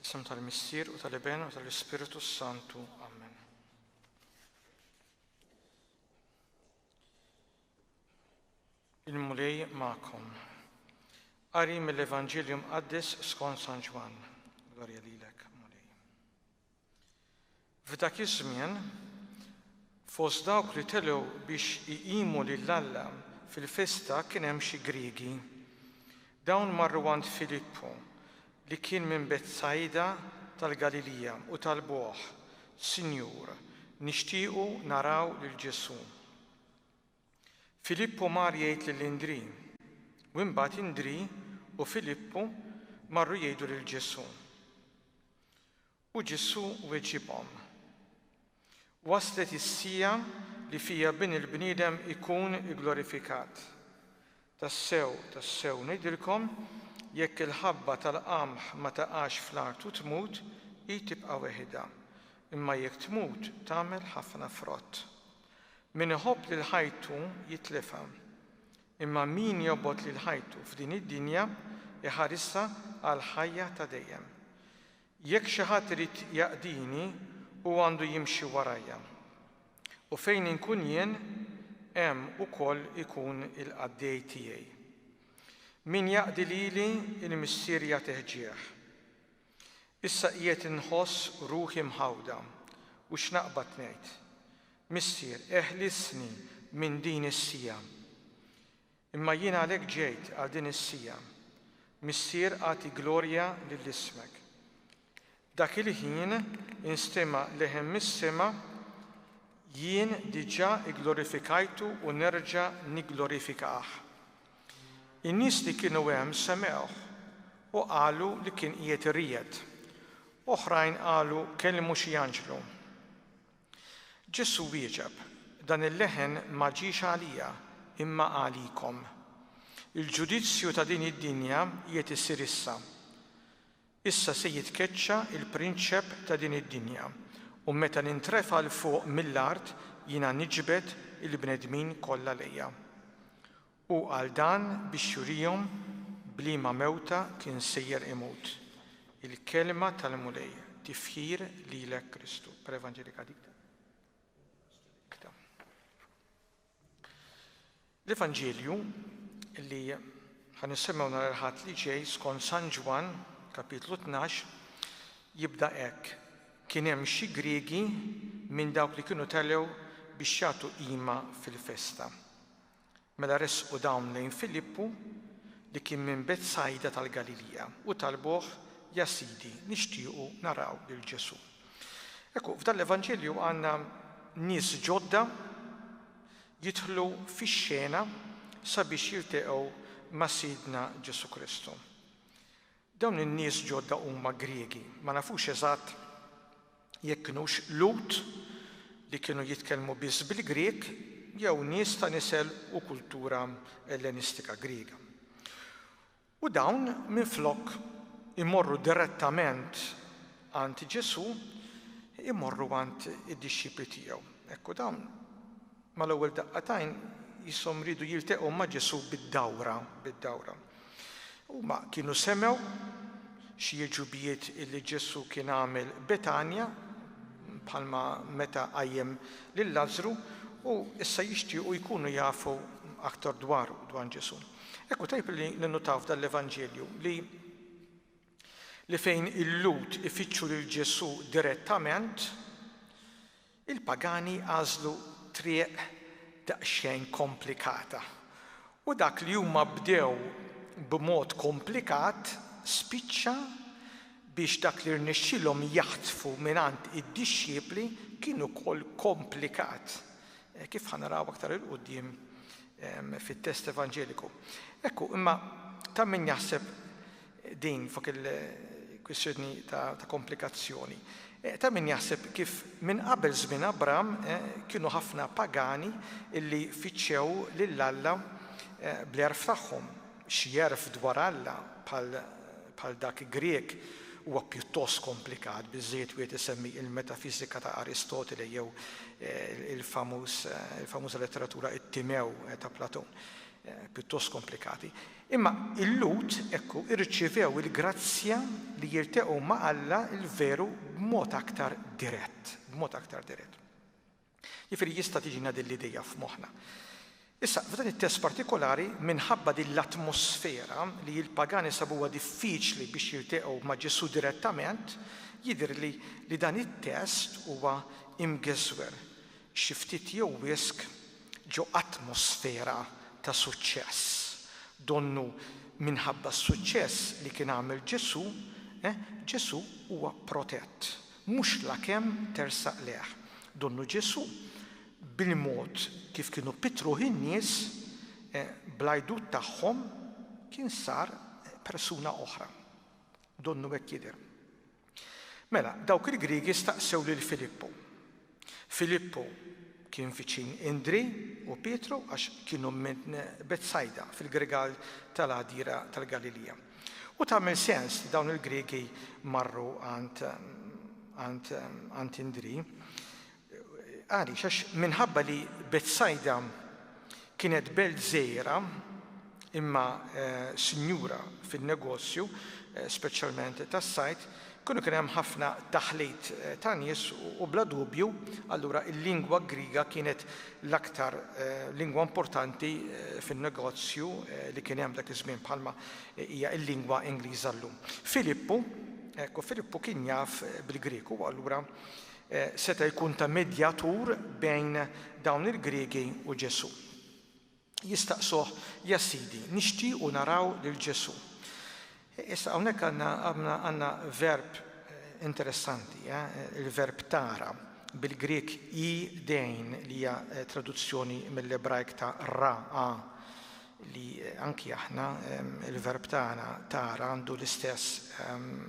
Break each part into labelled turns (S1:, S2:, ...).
S1: Isem tal-Missier u tal-Iben u tal-Ispirtu Santu. Amen. Il-Mulej ma'kom. Qari mill-Evanġelju Mqaddes skont San Ġwann. Glorja lilek. F'dak iż-żmien, fost dawk li telgħu biex iqimu lil Alla fil-festa kien hemm xi Griegi. Dawn marru għand Filippu, li kien minn Betsajda tal-Galilija, u talbuh, Sinjur, nixtiequ naraw lil Ġesù. Filippu mar jgħid lil Indrì, u imbagħad Indrì u Filippu marru jgħidu lil Ġesù. U Ġesù weġibhom, Waslet is-siegħa li fiha Bin il-bniedem ikun igglorifikat. Tassew, tassew ngħidilkom, jekk il-ħabba tal-qamħ ma taqax fl-art u tmut, hi tibqa' weħidha, imma jekk tmut tagħmel ħafna frott. Min iħobb lil ħajtu jitlifha, imma min jobgħod lil ħajtu f'din id-dinja, iħarisha għall-ħajja ta' dejjem. Jekk xi ħadd irid jaqdini, hu għandu jimxi warajja. U fejn inkun jien, hemm ukoll ikun il-qaddej tiegħi. Min jaqdi lili, il-Missier jagħtih ġieħ. Issa qiegħed inħoss ruħi mħawda, u x'naqbad ngħid? Missier, eħlisni minn din is-siegħa. Imma jien għalhekk ġejt għal din is-siegħa. Missier agħti glorja lil ismek. Dak il-ħin instema' leħen mis-sema, Jien diġà igglorifikajtu u nerġa' nigglorifikah. In-nies li kienu hemm semgħuh u qalu li kien qiegħed iriegħed. Oħrajn qalu kellmu xi anġlu. Ġesù wieġeb, Dan il-leħen ma ġiex għalija, imma għalikom. Il-ġudizzju ta' din id-dinja qiegħed isir issa. Issa se jitkeċċa l-prinċep ta' din id-dinja, u meta nintrefa' 'l fuq mill-art jiena niġbed il-bnedmin kollha lejja. Hu qal dan biex jurihom b'liema mewta kien sejjer imut. Il-Kelma tal-Mulej, Tifħir lilek Kristu. Per Evangelika dicta. L-Evanġelju li ħan nisimgħu nhar il-Ħadd li ġej skont San Ġwann, kapitlu 12, jibda hekk. Kien hemm xi Griegi minn dawk li kienu telgħu biex jagħtu qima fil-festa. Mela resqu dawn lejn Filippu, li kien minn Betsajda tal-Galilija, u talbuh, Ja Sidi, nixtiequ naraw lil Ġesù. Ekku, f'dan l-Evanġelju għandna nies ġodda jidħlu fix-xena sabiex jilteqgħu ma' Sidna Ġesù Kristu. Dawn in-nies ġodda huma Griegi. Ma nafux eżatt jekk kinux Lhud li kienu jitkellmu biss bil-Grieg jew nies ta' nisel u kultura Ellenistika Griega. U dawn minflok imorru direttament għand Ġesù, imorru għand id-dixxipli tiegħu. Hekk hu dawn. Mal-ewwel daqqa t'għajn jisshom riedu jilteqgħu ma' Ġesù bid-dawra, bid-dawra. Huma kienu semgħu xi għeġubijiet li Ġesù kien għamel Betanja, bħalma meta qajjem lil Lażżru, u issa jixtiequ jkunu jafu aktar dwaru, dwar Ġesù. Hekk hu tajjeb li ninnutaw f'dan l-Evanġelju li li fejn il-Lhud ifittxu lil Ġesù direttament, Il-pagani għażlu triq daqsxejn komplikata, u dak li huma bdew b'mod komplikat spiċċa biex dak li rnexxielhom jaħtfu mingħand id-dixxipli kien ukoll komplikat, kif ħa naraw aktar 'il quddiem fit-test Evanġeliku. Ekku, imma ta' min jaħseb din fuq il-kwistjoni ta' komplikazzjoni. Ta' min jaħseb kif minn qabel żmien Abram kienu ħafna pagani li fittxew lil Alla bl-għerf tagħhom. Xi għerf dwar Alla bħal dak Grieg huwa pjuttost komplikat, biżżejjed wieħed isemmi il-Metafiżika ta' Aristotele jew il-famuża letteratura It-Timew ta' Platon. Pjuttost komplikati. Imma il-Lhud, ekku, irċievew il-grazzja li jilteqgħu ma' Alla l-veru b'mod aktar dirett, b'mod aktar dirett. Jiġifieri jista' tiġina din l-idea f'moħħna. Issa, f'dan it-test partikolari, minħabba din l-atmosfera li l-pagani sabuha diffiċli biex jilteqgħu ma' Ġesù direttament, jidhirli li dan it-test huwa imgeżwer xi ftit jew wisq ġo atmosfera ta' suċċess. Donnu minħabba s-suċċess li kien għamel Ġesù, Ġesù huwa protett, mhux lakemm tersaq lejh. Donnu Ġesù, bil-mod kif kienu pittruh in-nies, bl-għidut tagħhom kien sar persuna oħra. Donnu hekk jidher. Mela, dawk il-Griegi staqsew lil Filippu. Filippu kien viċin Indri u Pietru għax kienu minn Betsajda, fil-gregal tal-għadira tal-Galilija. U tagħmel sens li dawn il-Griegi marru għand Indri. Għaliex? Għax minħabba li Betsajda kienet belt żgħira imma sinjura fin-negozju, speċjalment tas-sajd, kienu kien hemm ħafna taħlit ta' nies u bla dubju allura l-lingwa Griega kienet l-aktar lingwa importanti fin-negozju li kien hemm dak iż-żmien bħalma hija l-lingwa Ingliża llum. Filippu, ekku Filippu kien jaf bil-Grieg u allura seta' jkun ta' medjatur bejn dawn il-Griegi u Ġesù. Jistaqsuh, Ja Sidi, nixtiequ naraw lil Ġesù. Issa hawnhekk għandna verb interessanti, il-verb tara, bil-Grieg i dei'nein, li hija traduzzjoni mill-Ebrajk ta' ra a, li anki aħna il-verb tagħna tara għandu l-istess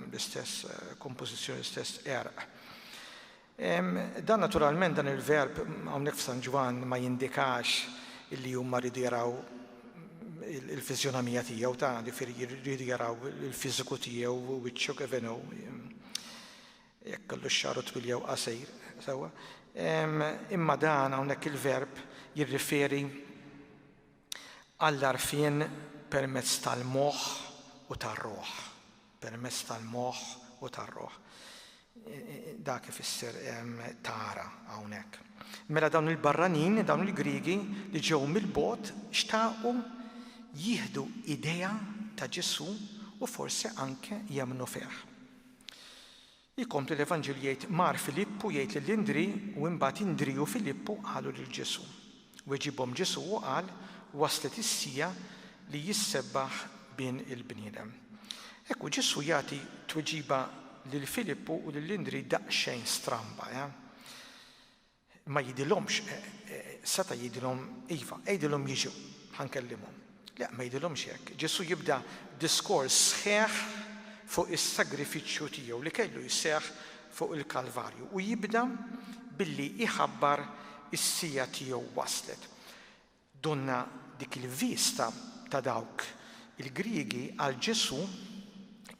S1: l-istess kompożizzjoni, l-istess erq. Dan naturalment dan il-verb hawnhekk f'San Ġwann ma jindikax illi huma rridu jaraw il-fizjonomija tiegħu ta' ġifieri jridu jaraw il-fiżiku tiegħu wiċċu kif inhu jekk kellu x-xaru twil jew qasir sewwa. Imma dan hawnhekk il-verb jirriferi Għall-għarfien permezz tal-moħħ u tar-ruħ. Permezz tal-moħħ u tar-ruħ. Dak ifisser tara hawnhekk. Mela dawn il-barranin, dawn il-Griegi li ġew mill-bot xtaqu jieħdu idea ta' Ġesu u forsi anke jemmnu fih. Ikompli l-Evanġelju jgħid, Mar Filippu jgħid lil Indrì u imbagħad Indrì u Filippu qalu lil Ġesù. Weġibhom Ġesù u qal, Waslet is-siegħa li jissebbaħ Bin il-bniedem. Ekku Ġesù jagħti tweġiba lil Filippu u lil Indrì daqsxejn stramba, eh? Ma jgħidilhomx, Seta' jgħidilhom, Iva, għidilhom jiġu, ħa nkellimhom. Le, ma jgħidilhomx hekk. Ġesù jibda diskors sħiħ fuq is-sagrifiċċju tiegħu li kellu jseħħ fuq il-Kalvarju u jibda billi jħabbar is-siegħa tiegħu waslet. Donnha dik il-vista ta' dawk il-Griegi għal Ġesù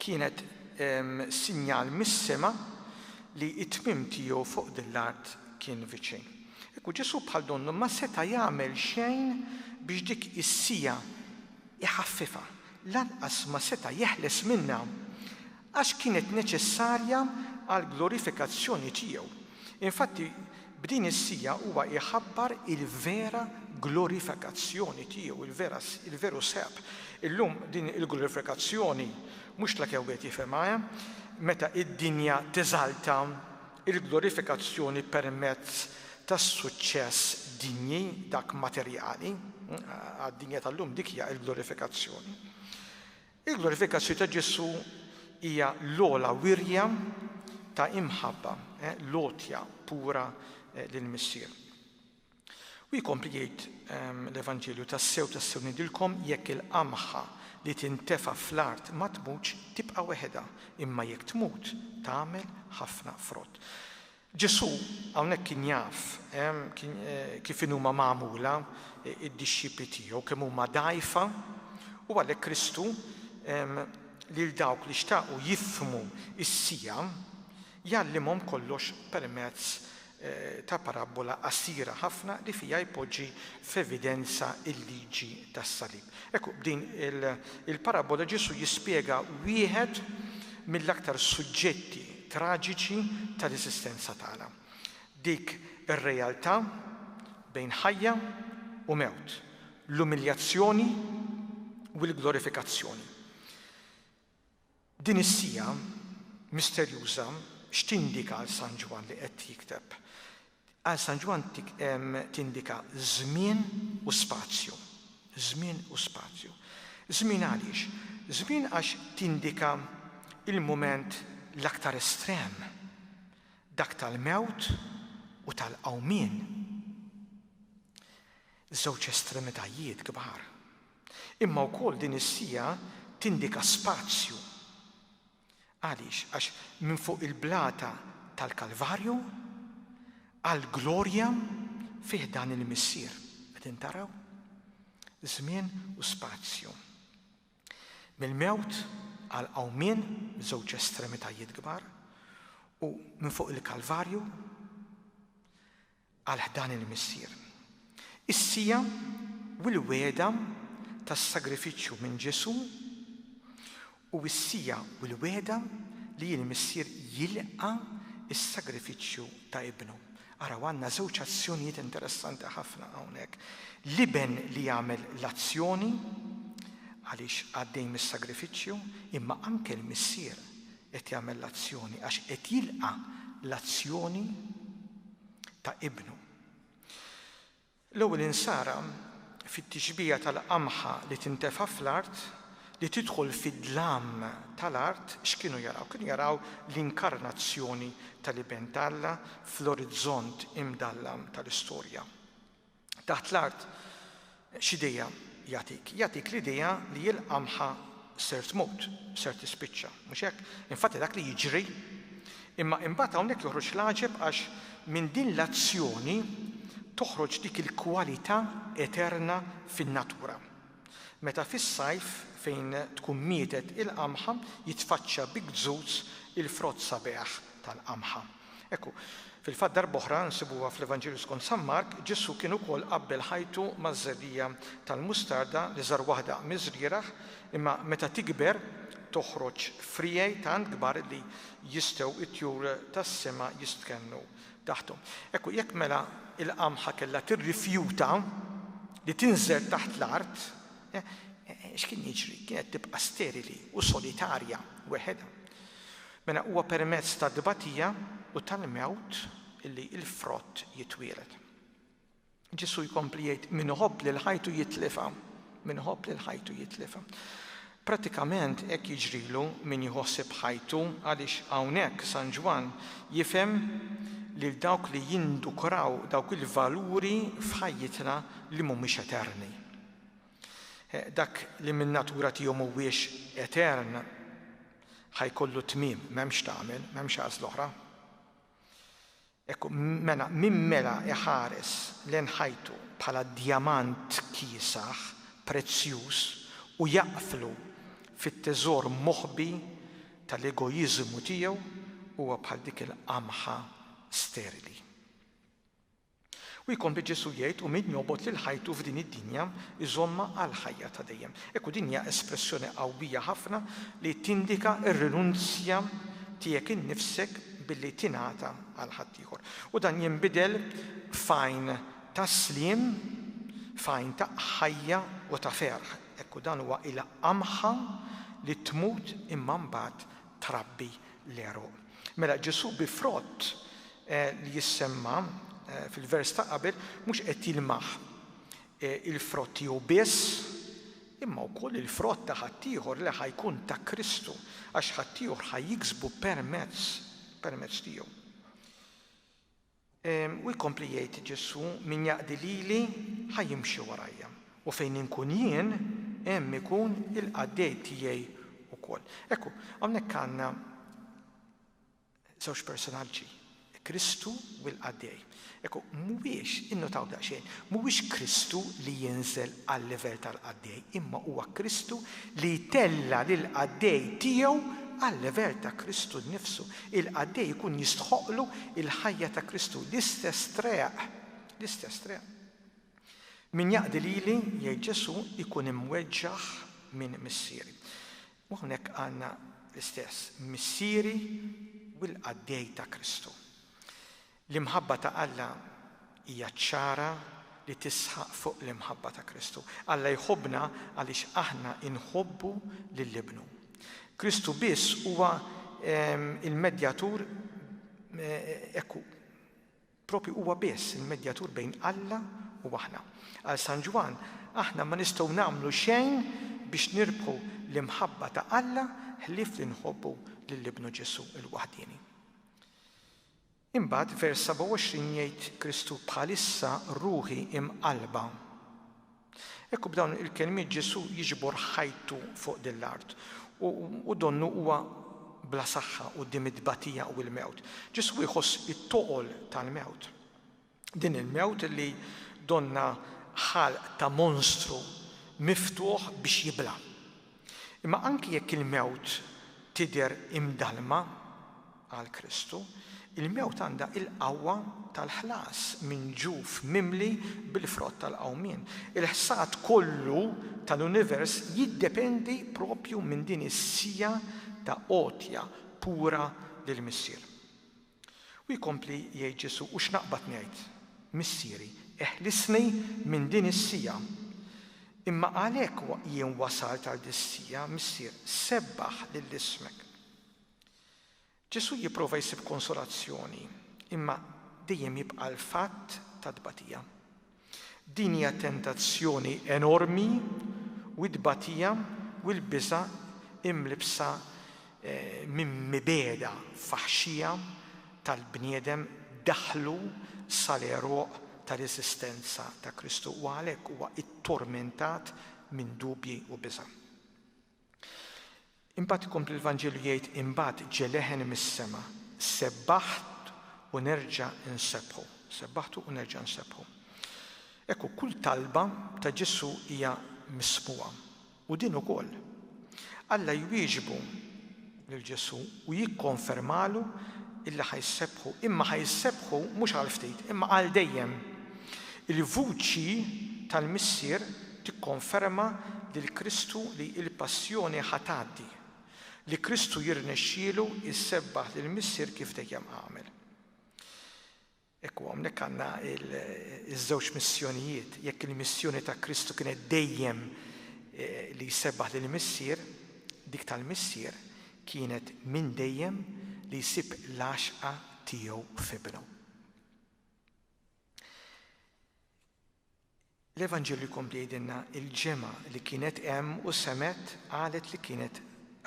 S1: kienet sinjal mis-sema li t-tmiem tiegħu fuq din l-art kien viċin. Ekku, Ġesù bħal donnu ma seta' jagħmel xejn biex dik is-siegħa jħaffifha, lanqas ma seta' jeħles minnha Għax kienet neċessarja għall-glorifikazzjoni tiegħu. Infatti, b'din is-siegħa huwa jħabbar il-vera glorifikazzjoni tiegħu, il-vera, il-veru seb. Illum din il-glorifikazzjoni mhux la kemm wieħed jifhimha, eh? Meta d-dinja teżalta il-glorifikazzjoni permezz tas-suċċess dinji, dak materjali, għad-dinja tal-lum dik hija l-glorifikazzjoni. Il-glorifikazzju ta' Ġesù hija l-ogħla wirja ta' imħabba, l-għotja pura lill-Missier. U jkompli jgħid l-Evanġelju, tassew tassew ngħidilkom jekk il-qamħa li tintefa' fl-art ma tmutx tibqa' weħedha, imma jekk tmut tagħmel ħafna frott. Ġesù hawnhekk kien jaf kif inhuma magħmula d-dixxipli tiegħu, kemm huma dgħajfa, u għalhekk Kristu lil dawk li xtaqu jifhmu s-siegħa jgħallimhom kollox permezz ta' parabbola qasira ħafna li fiha jpoġġi f'evidenza l-liġi tas-salib. Ekku, b'din il-parabbola Ġesù jispjega wieħed mill-aktar suġġetti traġiċi tal-eżistenza tagħna, dik ir-realtà bejn ħajja u mewt, l-umiljazzjoni u l-glorifikazzjoni. Din is-siegħa misterjuża x'tindika għal San Ġwann li qed jikteb? Għal San Ġwann tindika żmien u spazju. Żmien u spazju. Żmien għaliex? Żmien għax tindika l-mument l-aktar estrem, dak tal-mewt u tal-qawmien. Żewġ estremitajiet kbar. Imma wkoll din is-siegħa tindika spazju. Għaliex? Għax minn fuq il-blata tal-Kalvarju għall-glorja fi ħdan il-Missier. Qegħdin taraw? Żmien u spazju. Mill-mewt għall-qawmien, żewġ estremitajiet kbar, u minn fuq il-Kalvarju għal ħdan il-Missier. Is-siegħa u l-wegħda tas-sagrifiċċju minn Ġesù u s-siegħa u l-wegħda li l-Missier jilqa' s-sagrifiċċju ta' Ibnu. Araw għandna żewġ azzjonijiet interessanti ħafna hawnhekk. L-iben li jagħmel l-azzjoni għaliex għaddej mis-sagrifiċċju, imma anke l-missier Qed jagħmel l-azzjoni għax qed jilqa' l-azzjoni ta' Ibnu. L-ewwel insara fit-tixbiha tal-qamħa li tintefa' fl-art, li tidħol fid-dlam tal-art, x'kienu jaraw? Kienu jaraw l-inkarnazzjoni tal-Iben t'Alla fl-orizzont imdallam tal-istorja. Taħt l-art x'idea jagħtik? Jagħtik l-idea li il-qamħa ser tmut, ser tispiċċa, mhux hekk? Infatti dak li jiġri. Imma imbagħad hawnhekk joħroġ l-għaġeb għax minn din l-azzjoni toħroġ dik il-kwalità eterna fin-natura. Meta fis-sajf, fejn tkun mietet il-qamħa, jitfaċċa bi gzuz il-frott sabiħ tal-qamħa. Hekk hu. Fil-fatt darb'oħra nsibuha fl-Evanġelju skont San Mark, Ġesù kien ukoll qabbel ħajtu maż-żerriegħa tal-mustarda li żar waħda miż-żrieragħ, imma meta tikber toħroġ friegħi tant kbar li jistgħu t-tjur tas-sema jistkennu taħthom. Ekku, jekk mela il-qamħa kellha tirrifjuta li tinżel taħt l-art, x'kien jiġri? Kienet tibqa' sterili u solitarja weħedha. Mela huwa permezz tat-tbatija u tal-mewt li l-frott jitwieled. Ġesù jkompli jgħid, Min iħobb lil ħajtu jitlifha. Min iħobb lil ħajtu jitlifha. Prattikament hekk jiġrilu min jħossib ħajtu għaliex hawnhekk San Ġwann jifhem lil dawk li jindukraw dawk il-valuri f'ħajjitna li mhumiex eterni. Dak li minn natura tiegħu mhuwiex etern ħajkollu tmiem, m'hemmx tagħmel, m'hemmx għażl oħra. Hekk mela, min mela iħares lejn ħajtu bħala djamant kiesaħ, prezzjuż, u jaqflu fit-teżor moħbi tal-egoiżmu tiegħu huwa bħal dik il-qamħa sterili. U jkompli Ġesù jgħid, U min jobgħod lil ħajtu f'din id-dinja, iżommha għall-ħajja ta' dejjem. Ekku din hija espressjoni qawwija ħafna li tindika r-rinunzja tiegħek innifsek billi tingħata għal ħaddieħor. U dan jinbidel f'għajn ta' sliem, f'għajn ta' ħajja u ta' ferħ. Ekku dan huwa il-qamħa li tmut imma mbagħad trabbi l-għeruq. Mela Ġesu bi frott eh, li jissemma eh, fil-vers ta' qabel mhux qed jilmaħ eh, il-frott tiegħu biss imma wkoll il-frott ta' ħaddieħor li ħa jkun ta' Kristu, għax ħaddieħor ħa jiksbu permezz, permezz tiegħu. U jkompli jgħid Ġesù, min jaqdi lili ħa jimxi warajja, u fejn inkun jien, hemm ikun il-qaddej tiegħi wkoll. Ekku, hawnhekk għandna Żewġ personaġġi, Kristu u l-qaddej. Ekku, mhuwiex, innotaw daqsxejn, mhuwiex Kristu li jinżel għal-livell tal-qaddej, imma huwa Kristu li jtella' lill-qaddej tiegħu għal-livell ta' Kristu nnifsu. Il-qaddej ikun jistħoqqlu l-ħajja ta' Kristu, l-istess treq, l-istess treq. Min jaqdi lili, jgħid Ġesù, ikun imweġġaħ minn Missieri. U hawnhekk għandna l-istess, missieri u l-qaddej ta' Kristu. L-imħabba ta' Alla hija ċara li tisħaq fuq l-imħabba ta' Kristu. Alla jħobbna għaliex aħna nħobbu lil Ibnu. Kristu biss huwa l-medjatur, hekk hu, Proprju huwa biss il-medjatur bejn Alla u aħna. Għal San Ġwann, aħna ma nistgħu nagħmlu xejn biex nirbħu l-imħabba ta' Alla ħlief li nħobbu lil Ibnu Ġesù l-waħdieni. Imbagħad vers 27 jgħid Kristu, Bħalissa ruħi imqallba. Ekku b'dawn il-kelmiet Ġesù jiġbor ħajtu fuq din l-art u donnu huwa bla saħħa quddiem it-tbatija u l-mewt. Ġesù jħoss it-toqol tal-mewt. Din il-mewt li donnha ħalq ta' monstru miftuħ biex jibla'. Imma anki jekk il-mewt tidher imdallma, Għal Kristu, il-mewt għandha il-qawwa tal-ħlas minn ġuf mimli bil-frott tal-qawmien. Il-ħsad kollu tal-univers jiddependi proprju minn din is-siegħa ta' għotja pura lill-Missier. U jkompli jgħid Ġesù, U x'naqbad ngħid? Missieri, eħlisni minn din is-siegħa. Imma għalhekk jien wasalt għal dis-siegħa, Missier, sebbaħ lil ismek. Ġesù jipprova jsib konsolazzjoni, imma dejjem jibqa' l-fatt tat-tbatija. Din hija tentazzjoni enormi u t-tbatija u l-biża' imlibbsa minn mibegħda faħxija tal-bniedem daħlu sal-għeruq tal-eżistenza ta' Kristu u għalhekk huwa ttormentat minn dubji u biża'. Imbagħad ikompli l-Vanġelu jgħid imbagħad ġie leħen mis-sema, sebbaħt u nerġa' nsebbħu. Sebbaħtu u nerġa' nsebbħu. Ekku, kull talba ta' Ġesù hija mismugħa, u din ukoll. Alla jwieġbu lil Ġesù u jikkonfermalu illi ħa jsebbħu, imma ħa jsebbħu mhux għal ftit, imma għal dejjem. Il-vuċi tal-Missier tikkonferma lil Kristu li l-passjoni ħa tgħaddi, li Kristu jirnexxielu jsebbaħ lill-Missier kif dejjem għamel. Ekku hawnhekk għandna ż-żewġ missjonijiet. Jekk il-missjoni ta' Kristu kienet dejjem li jsebbaħ lill-Missier, dik tal-Missier kienet minn dejjem li jsib l-għaxqa tiegħu f'Ibnu. L-Evanġelju jkompli jgħidilna, Il-ġemgħa li kienet hemm u semgħet qalet li kienet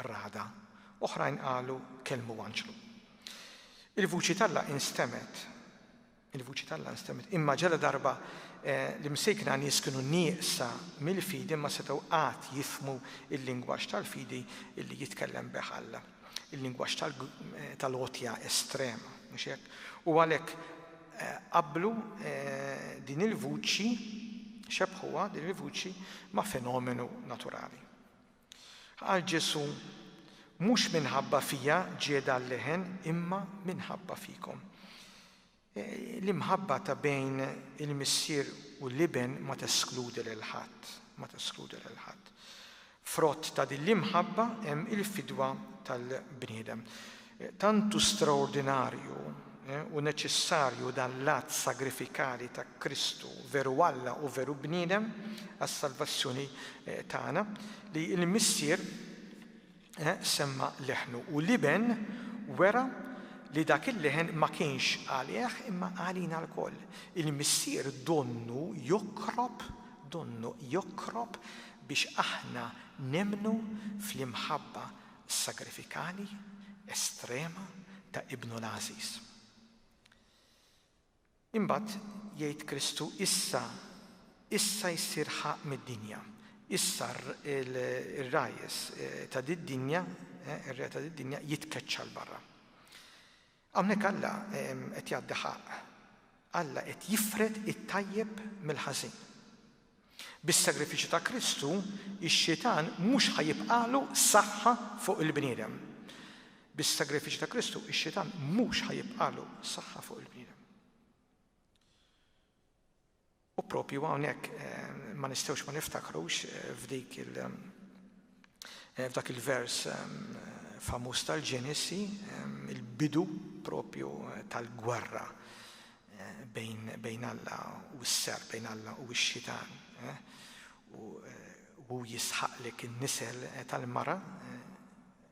S1: ragħda. Oħrajn qalu, Kellmu anġlu. Il-vuċi t'Alla instemgħet. Il-vuċi t'Alla instemgħet. Imma ġala darba l-imsejkna nies kienu nieqsa mill-fidi ma setgħu qatt jifhmu l-lingwaġġ tal-fidi li jitkellem bih Alla. Il-lingwaġġ tal-għotja estrema, mhux hekk? U għalhekk qabblu din il-vuċi, xebbħuha din il-vuċi ma' fenomenu naturali. Qal Ġesù, Mhux minħabba fija ġiegħda l-leħen imma minħabba fikom. L-imħabba ta' bejn il-missier u l-iben ma teskludi lil ħadd, ma teskludi lil ħadd. Frott ta' din l-imħabba hemm il-fidwa tal-bniedem. Tant hu straordinarju u neċessarju dan l-att sagrifikali ta' Kristu, veru Alla u veru bniedem, għas-salvazzjoni tagħna, li l-missier, semma leħnu u l-Iben wera li dak il-leħen ma kienx għalih imma għalina lkoll. Il-Missier donnu jokrob, donnu jokrob biex aħna nemmnu fl-imħabba sagrifikali, estrema ta' Ibnu l-għażiż. Imbagħad jgħid Kristu, Issa, issa jsir ħa mid-dinja. Issa r-ragħajjes ta' did-dinja, ir-re ta' did-dinja jitkeċċa 'l barra. Hawnhekk Alla qed jgħaddi ħaqq. Alla qed jifred it-tajjeb mill-ħażin. Bis-sagrifiċċju ta' Kristu, ix-Xitan mhux ħa jibqagħlu saħħa fuq il-bniedem. Bis-sagrifiċċju ta' Kristu, ix-Xitan mhux ħa jibqagħlu saħħa fuq il-bniedem. U propju hawnhekk eh, ma nistgħux ma niftakrux eh, f'dik il- F'dak il-vers famuż tal-Ġenesi, il-bidu propju tal-gwerra bejn Alla u s-serp, bejn Alla u x-xitan. U hu jisħaqlek in-nisel tal-mara,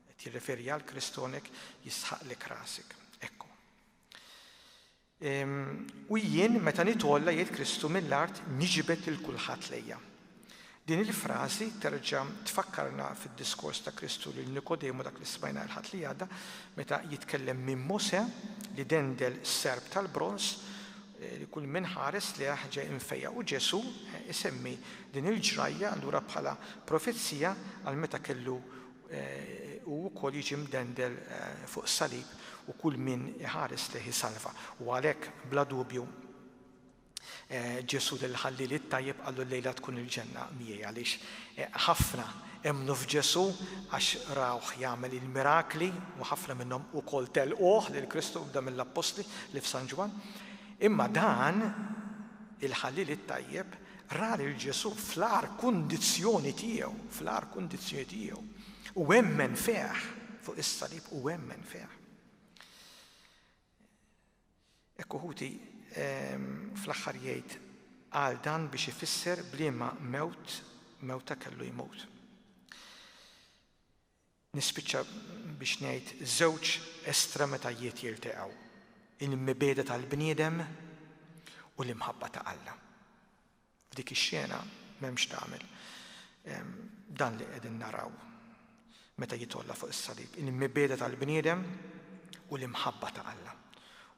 S1: qed jirreferi għal Kristonek, jisħaqlek rasek. Ekku. U jien, meta nitgħolla, jgħid Kristu, mill-art niġbed lil kulħadd lejja. Din il-frażi terġa' tfakkarna fid-diskors ta' Kristu lil Nikodemu dak li smajna l-Ħadd li għadda, meta jitkellem minn Mosè li dendel serp tal-bronż eh, li kull min ħares li ġej infejja u Ġesu eh, isemmi din il-ġrajja allura bħala profezija għal meta kellu Hu wkoll jiġi mdendel fuq is-salib u kull min iħares lejh isalva. U għalhekk, bla dubju, Ġesù lil ħalliel it-tajjeb qallu llejla tkun il-ġenna miegħi għaliex ħafna emmnu f'Ġesù għax rawh jagħmel il-mirakli u ħafna minnhom ukoll telquh lil Kristu ibda mill-appostli li f'San Ġwann. Imma dan il-ħalliel it-tajjeb Ra lil Ġesù fl-agħar kundizzjoni tiegħu, fl-agħar kundizzjoni tiegħu, u emmen fih fuq is-salib u emmen fih. Ekku ħuti ehm, fl-aħħar jgħid għal dan biex ifisser bliema mewt mewta kellu jmut. Nispiċċa biex ngħid żewġ estremitajiet jilteqgħu, il-mibegħda tal-bniedem u l-imħabba ta' Alla. F'dik ix-xena m'hemmx tagħmel dan li qegħdin naraw meta jitolla fuq is-salib, il-mibegħda tal-bniedem u l-imħabba ta' Alla.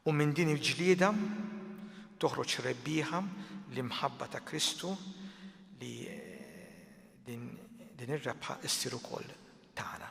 S1: U minn din il-ġlieda toħroġ rebbieħa l-imħabba ta' Kristu li Din ir-rebħa ssir ukoll tagħna.